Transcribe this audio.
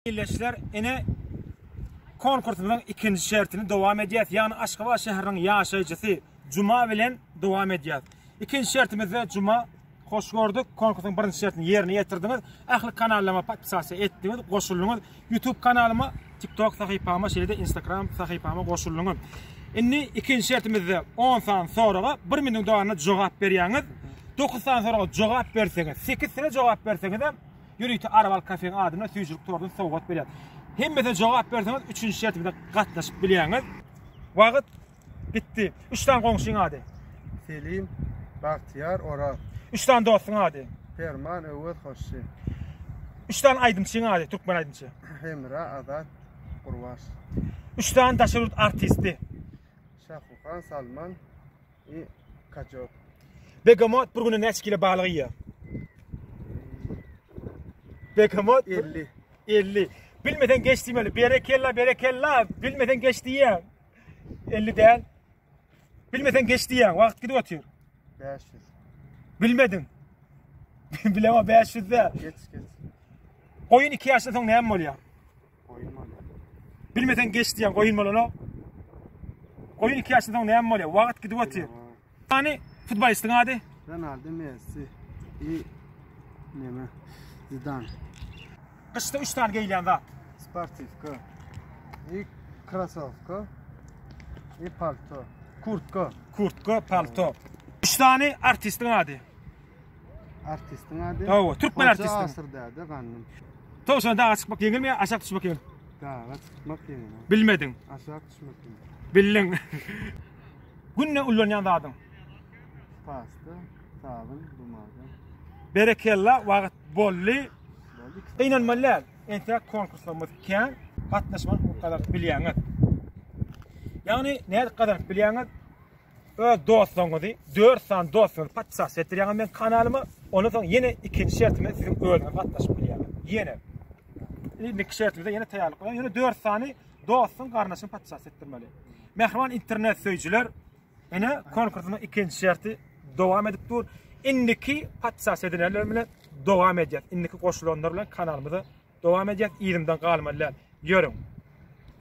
Ildeşler ine konkursymyzyň ikinji şertini dowam edýäs. Ýagny Aşgabat şäheriniň ýaşaýjysy Juma bilen dowam edýäs. Ikinji şertimizde Juma hoş gördük. Konkursyň birinji şertini ýerine ýetirdiňiz. Ähli kanallaryma podpisasiýa etdiňiz, goşuldyňyz. YouTube kanalyma, TikTok sahypama, şeýle-de Instagram sahypama goşuldyňyz. Indi ikinji şertimizde 10 sany soraga 1 minutiň dowamynda jogap berýäňiz. 9 sany soraga jogap berseňiz, 8 sene jogap berseňiz hem Ýörite Araval Kafeň adynda süýjülik tortuny sowgat berýär. Hemmesine jogap berseňiz, üçünji şertimize gatnaşyp bilýäňiz. Wagt gitdi. Üç sany goňşyň ady. Selim, Bagtyýar, Oraz. Üç sany dostuň ady. Perman, Öwez, Hoşşy. Üç sany aýdymçyň ady, türkmen aýdymçy. Hemra, Azat, Gurbaş. Üç sany daşary ýurt artisti. Şahuhan, Salman, I kaçok. Begamot bir güne näçe kilo balyk iýýär? Begamot 50. 50. Bilmesen geç diýmeli. Berekella, berekella. Bilmesen geç diýýär. 50 däl. Bilmesen geç diýýär. Wagt gidip otyr. 500. Bilmedin. Bilema 500 däl. Geç geç. Goýun 2 ýaşdan soň näme bolýar? Goýun bolýar. Bilmeseň geç diýen goýun bolana. Goýun 2 ýaşdan soň näme bolýar? Wagt gidip otyr. Hani futbolistiň ady? Ronaldo Messi. I neme? Zidan. Gyşda 3 sany geýilýän zat. Sportivka. I krasowka. I palto. Kurtka. Kurtka, palto. 3 sany artistiň ady? Artistiň ady? Hawa, türkmen artisti. Hoca Asyr däde gandym. Towşan daga çykmak ýeňilmi ýa aşak düşmek ýeňil? Daga çykmak ýeňil. Bilmediň. Aşak düşmek ýeňil. Bildiň. Günde ullanýan zadyň? Pasta, sabyn, bumada. Berekella, wagt bolly. Gynanmaly däl. Entek konkurslarymyz kän. Gatnaşmak hukuk gazanyp bilýäňiz. Ýagny, nädip gazanyp bilýäňiz? öz dostlaryňyzy, dört sany dostuňyzy podpis etdirýäňiz men kanalyma. Ondan soň ýene ikinji şertime siziň özüňiz gatnaşyp bilýäňiz. Ýene. Indiki şertimize ýene taýýarlyk görýän. Ýöne dört sany dostuň garnaşyny podpis etdirmeli. Mähriban internet söýüjiler, ene konkursynyň ikinji şerti dowam edip dur. Indiki podpis edilenler bilen dowam edýär. Indiki goşulanlar bilen kanalymyza dowam edýär. Ýerimden galmaly. Ýörüň.